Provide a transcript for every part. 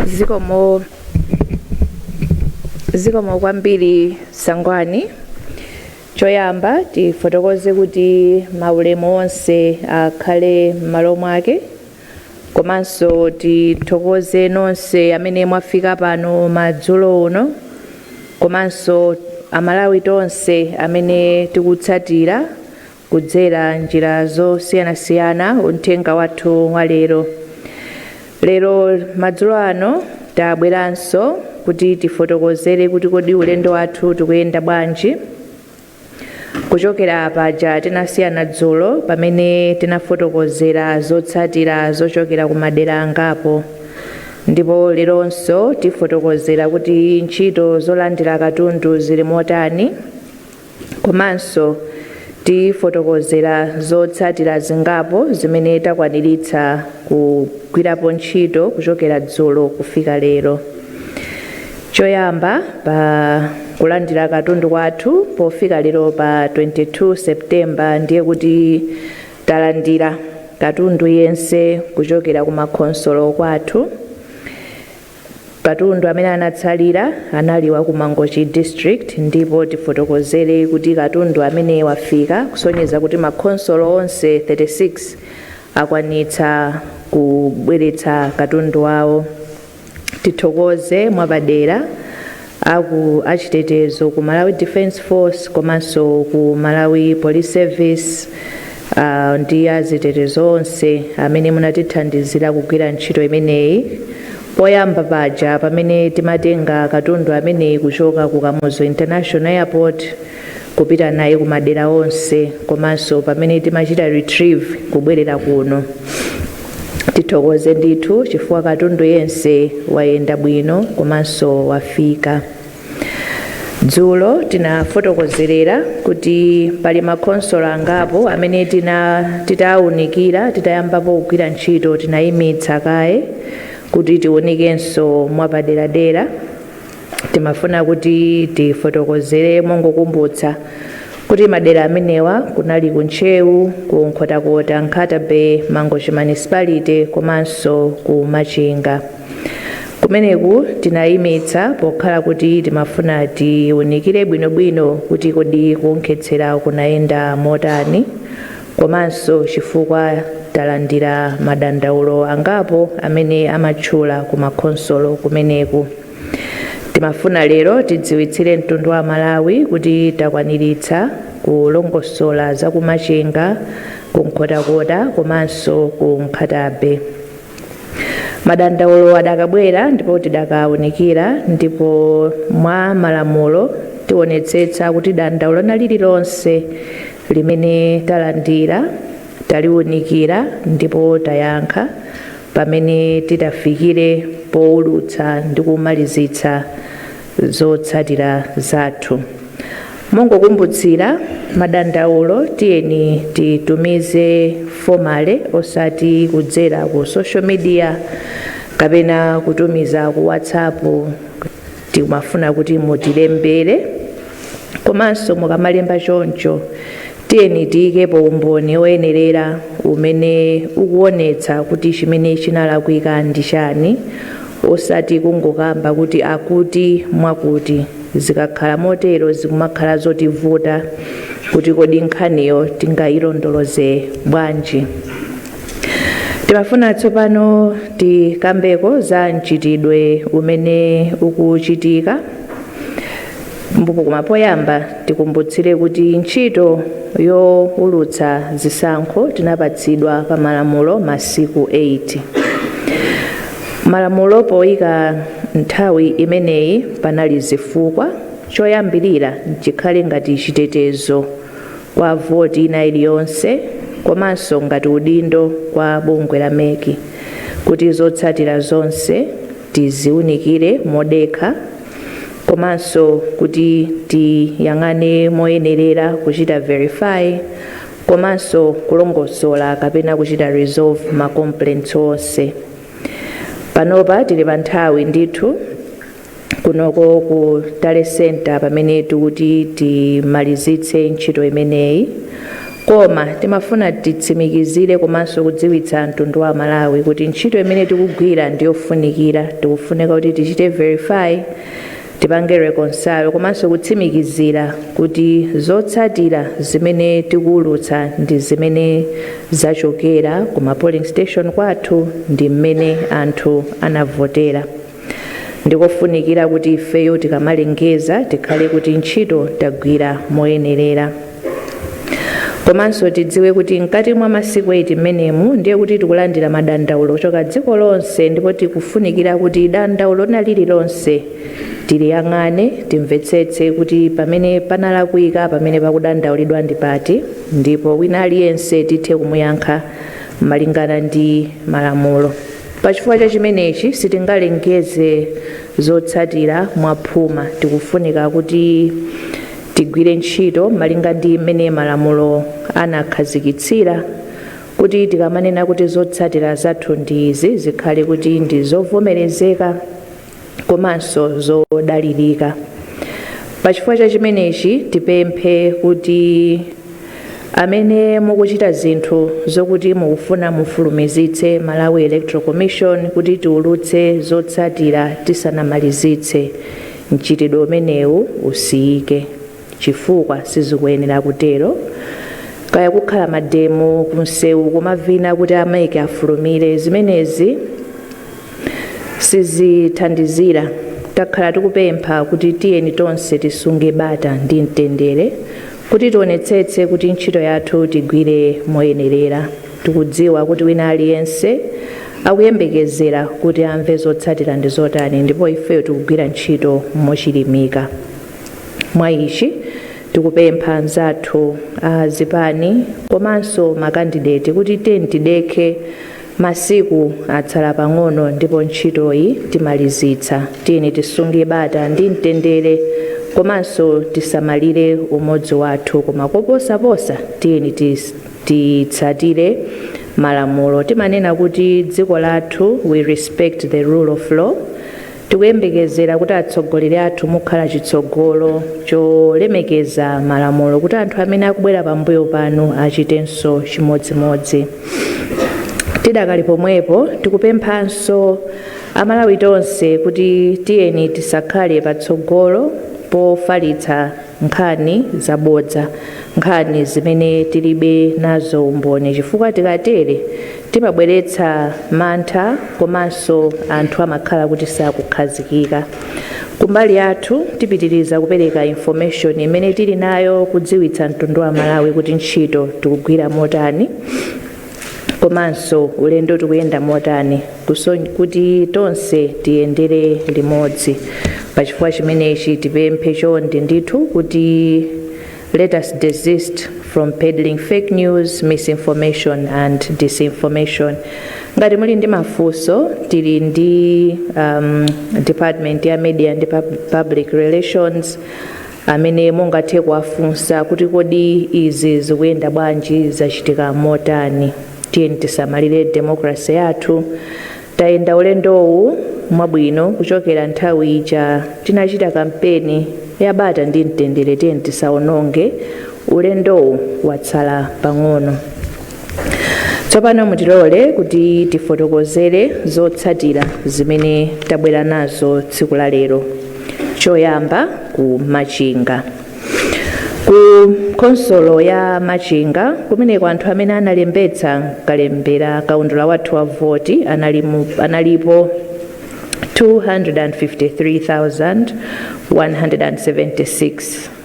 zikomo zikomo kwambiri sangwani choyamba tifotokoze kuti maulemu onse akhale m'malo mwake Komanso tithokoze nonse amene mwafika pano madzulo uno komanso Amalawi tonse amene tikutsatira kudzera njira zosiyanasiyana uthenga wathu wa lero. Lero madzulo ano tabweranso kuti tifotokozere kuti kodi ulendo wathu tikuyenda bwanji. Kuchokera paja tinasiyana dzulo pamene tinafotokozera zotsatira zochokera ku madera angapo ndipo leronso tifotokozera kuti ntchito zolandira katundu zili motani komanso tifotokozera zotsatira zingapo zimene takwaniritsa kugwirapo ntchito kuchokera dzulo kufika lero. Choyamba, pa kulandira katundu kwathu pofika lero pa 22 September ndiye kuti talandira katundu yense kuchokera ku makhonsolo kwathu. Katundu amene anatsalira anali wa ku Mangochi District ndipo tifotokozere kuti katundu amene wafika kusonyeza kuti makhonsolo onse 36 akwanitsa kubweretsa katundu wawo. tithokoze mwapadera aku achitetezo ku Malawi Defence Force komanso ku Malawi Police Service uh, ndi azitetezo onse amene munatithandizira kugwira ntchito imeneyi poyamba paja pamene timatenga katundu ameneyi kuchoka ku Kamuzu International Airport kupita naye ku madera onse komanso pamene timachita retrieve kubwerera kuno tithokoze ndithu chifukwa katundu yense wayenda bwino komanso wafika dzulo tinafotokozerera kuti pali makhonsolo angapo amene tina titawunikira titayambapo kugwira ntchito tinayimitsa kaye kuti tiwunikenso mwapaderadera Timafuna kuti tifotokozere mongokumbutsa kuti madera amenewa kunali ku Ntcheu, ku Nkhotakota, Nkhata-Bay, Mangochi Municipality komanso ku Machinga. Kumeneku tinayimitsa pokhala kuti timafuna tiunikire bwinobwino kuti kodi kuwonkhetsera kunayenda motani, Komanso chifukwa talandira madandaulo angapo amene amatchula ku ma khonsolo kumeneku. Timafuna lero tidziwitsire mtundu wa Malawi kuti takwaniritsa kulongosola za ku Machinga, ku Nkhotakota komanso ku Nkhata Bay. Madandaulo adakabwera ndipo tidakawunikira ndipo mwa malamulo tiwonetsetsa kuti dandaulo lina lililonse limene talandira, taliunikira ndipo tayankha pamene titafikire poulutsa ndi kumalizitsa zotsatira zathu. Mongokumbutsira madandaulo tiyeni titumize formally osati kudzera ku social media kapena kutumiza ku WhatsApp Tikumafuna kuti mutilembere komanso mukamalemba choncho, tiyeni tiikepo umboni woyenerera umene ukuonetsa kuti chimene chinalakwika ndi chani osati kungokamba kuti akuti mwakuti. Zikakhala motero zikumakhala zotivuta kuti kodi nkhaniyo tingailondoloze bwanji. Timafuna tsopano tikambeko za mchitidwe umene ukuchitika mbuku koma poyamba tikumbutsire kuti ntchito yowulutsa zisankho tinapatsidwa pa malamulo masiku 8. Malamulo poyika nthawi imeneyi panali zifukwa, choyambirira chikhale ngati chitetezo kwa voti ina iliyonse komanso ngati udindo kwa bungwe la MEC kuti zotsatira zonse tiziunikire modekha komanso kuti tiyang'ane moyenerera kuchita verify komanso kulongosola kapena kuchita resolve ma complaints onse panopa tili pa nthawi ndithu kunoko ku tally center pamene tikuti timalizitse ntchito imeneyi koma timafuna titsimikizire komanso kudziwitsa mtundu wa Malawi kuti ntchito imene tikugwira ndiyofunikira tikufunika kuti tichite verify tipange reconcile komanso kutsimikizira kuti zotsatira zimene tikuwulutsa ndi zimene zachokera ku ma polling station kwathu ndi mmene anthu anavotera Ndikofunikira kuti ifeyo tikamalengeza tikhale kuti ntchito tagwira moyenerera. Komanso tidziwe kuti mkati mwa masiku 8 mmenemu ndiye kuti tikulandira madandaulo kuchoka dziko lonse ndipo tikufunikira kuti dandaulo lina lililonse tiliyang'ane, timvetsetse kuti pamene panalakwika, pamene pakudandaulidwa ndi pati ndipo wina aliyense tithe kumuyankha malingana ndi malamulo. Pachifukwa cha chimenechi sitingalengeze zotsatira mwaphuma. Tikufunika kuti tigwire ntchito malinga ndi mmene malamulo anakhazikitsira kuti tikamanena kuti zotsatira zathu ndi izi zikhale kuti ndi zovomerezeka. komanso zodalirika. Pa chifukwa cha chimenechi, tipemphe kuti amene mukuchita zinthu zokuti mukufuna mufulumizitse Malawi Electoral Commission kuti tiulutse zotsatira tisanamalizitse mchitidwe umenewu usiyike chifukwa sizikuyenera kutero. Kaya kukhala mademo kumsewu kumavina kuti a mec afulumire, zimenezi sizithandizira takhala tikupempha kuti tiyeni tonse tisunge bata ndi mtendere kuti tionetsetse kuti ntchito yathu tigwire moyenerera tikudziwa kuti wina aliyense akuyembekezera kuti amve zotsatira ndi zotani ndipo ifeyo tikugwira ntchito mochilimika mwa ichi tikupempha anzathu a zipani komanso makandideti kuti tiyeni tidekhe Masiku atsala pang'ono ndipo ntchitoyi timalizitsa. Tiyeni tisunge bata ndi mtendere komanso tisamalire umodzi wathu koma koposaposa tiyeni titsatire malamulo. Timanena kuti dziko lathu we respect the rule of law. Tikuyembekezera kuti atsogoleri athu mukhala chitsogolo cholemekeza malamulo kuti anthu amene akubwera pambuyo panu achitenso chimodzimodzi. Tidakali pomwepo, tikupemphanso a Malawi tonse kuti tiyeni tisakhale patsogolo pofalitsa nkhani zabodza, nkhani zimene tilibe nazo umboni chifukwa tikatere timabweretsa mantha komanso anthu amakhala kuti sakukhazikika. Kumbali yathu tipitiriza kupereka information imene tili nayo kudziwitsa mtundu wa Malawi kuti ntchito tikugwira motani. komanso ulendo tikuyenda motani kuti tonse tiyendere limodzi pachifukwa chimenechi tipemphe chonde ndithu kuti let us desist from peddling fake news misinformation and disinformation ngati muli ndi mafunso tili ndi um, department ya media ndi Pub- public relations amene mungathe kuwafunsa kuti kodi izi zikuyenda bwanji, zachitika motani. Tiyeni tisamalire democracy yathu. Tayenda ulendowu mwabwino kuchokera nthawi ija tinachita kampeni yabata ndi mtendere. Tiyeni tisaononge ulendowu, watsala pang'ono. tsopano mutilole kuti tifotokozere zotsatira zimene tabwera nazo tsiku la lero choyamba ku machinga ku khonsolo ya machinga kumeneko anthu amene analembetsa kalembera kaundula wathu wa voti analipo 253,176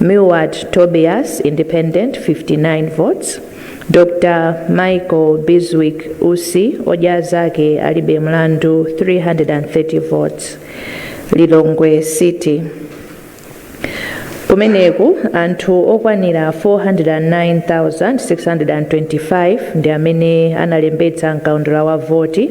Milward Tobias, Independent, 59 votes, Dr Michael Bizwick Usi, odya zake alibe mlandu, 330 votes, Lilongwe City. Kumeneku anthu okwanira 409,625 ndi amene analembetsa mkaundula wa voti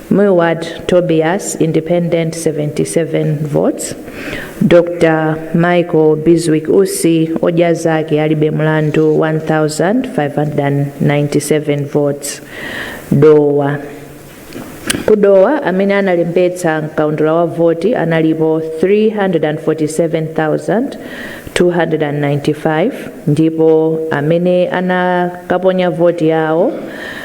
Milward Tobias, Independent, 77 votes. Dr. Michael Bizwick Usi, Odya Zake Alibe Mlandu, 1,597 votes. Dowa. Ku Dowa amene analembetsa mkaundula wa voti analipo 347,295 ndipo amene anakaponya voti yawo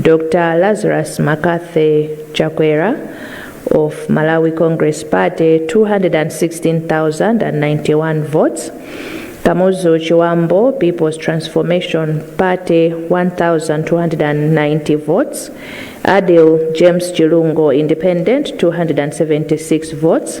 Dr Lazarus McCarthy Chakwera of Malawi Congress Party 216,091 votes, Kamuzu Chiwambo People's Transformation Party 1,290 votes, Adil James Chilungo Independent 276 votes,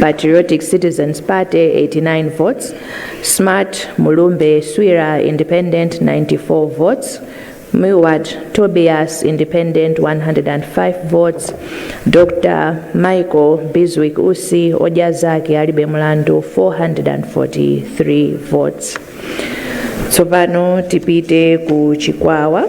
Patriotic Citizens Party 89 votes, Smart Mulumbe Swira Independent 94 votes, Miwat Tobias Independent 105 votes, Dr. Michael Biswick Usi Ojazaki Alibe Mulandu 443 votes. Tsopano tipite ku Chikwawa.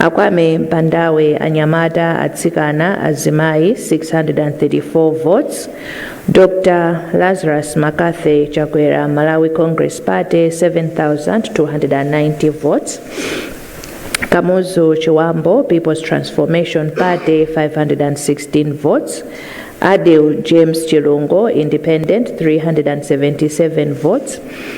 Akwame Bandawe Anyamata Atsikana Azimayi 634 votes Dr Lazarus Mccarthy Chakwera Malawi Congress Party 7290 votes Kamuzu Chiwambo People's Transformation Party 516 votes Adil James Chilungo Independent 377 votes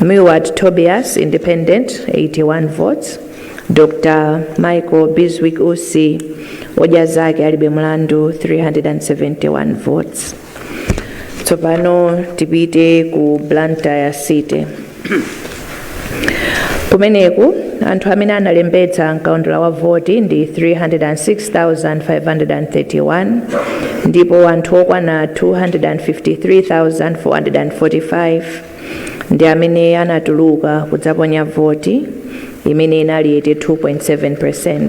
Milward Tobias, Independent, 81 votes. Dr. Michael Biswick Usi, hoja zake alibe mlandu, 371 votes. Tsopano tipite ku Blantyre City. Kumeneku, anthu amene analembetsa m'kaundula wa voti ndi 306,531 ndipo anthu okwana 253,445 ndi amene anatuluka kudzaponya voti, imene inali 82.7%.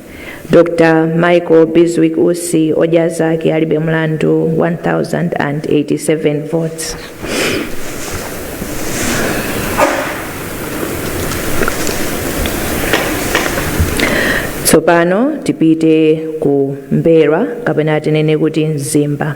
Dr. Michael Bizwick Usi odya zake alibe mlandu 1087 votes. Tsopano tipite ku M'mbelwa kapena tinene kuti Mzimba.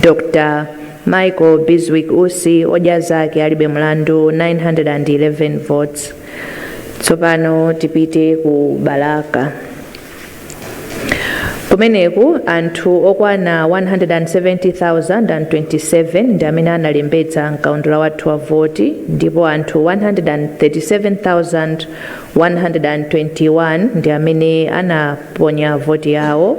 Dr. Michael Biswick Usi odya zake alibe mlandu 911 votes. Tsopano tipite ku Balaka. Kumeneku anthu okwana 170,027 ndi amene analembetsa mkaundula wathu wa voti ndipo anthu 137,121 ndi amene anaponya voti yawo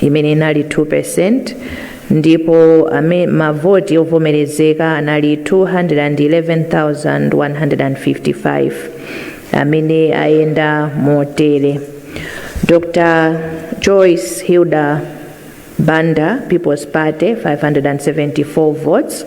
imene inali 2% ndipo mavoti ovomerezeka anali 211,155 amene ayenda motere dr joyce hilda banda people's party 574 votes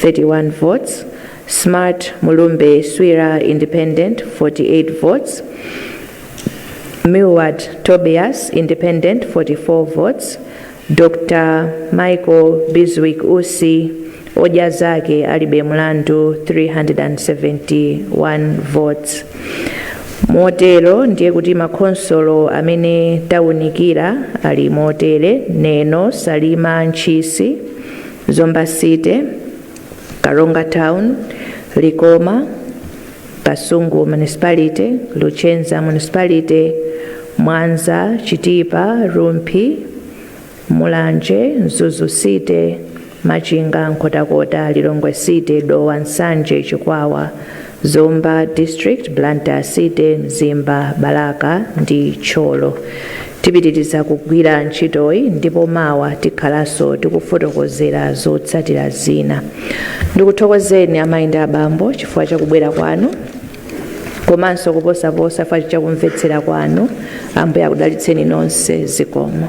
31 votes, Smart Mulumbe Swira Independent 48 votes, Milward Tobias Independent 44 votes, Dr. Michael Biswick Usi Odya Zake Alibe Mlandu 371 votes. motero ndiye kuti makhonsolo amene tawunikira ali motere neno salima ntchisi Zomba City, Karonga Town, Likoma, Kasungu Municipality, Luchenza Municipality, Mwanza, Chitipa, Rumphi, Mulanje, Mzuzu City, Machinga, Nkhotakota, Lilongwe City, Dowa, Nsanje, Chikwawa, Zomba District, Blantyre City, Mzimba, Balaka ndi Thyolo. Tipitiriza kugwira ntchitoyi ndipo mawa tikhalanso tikufotokozera zotsatira zina. Ndikuthokozeni amayi ndi abambo chifukwa cha kubwera kwanu komanso kuposaposa chifukwa cha kumvetsera kwanu. Ambuye akudalitseni nonse. Zikomo.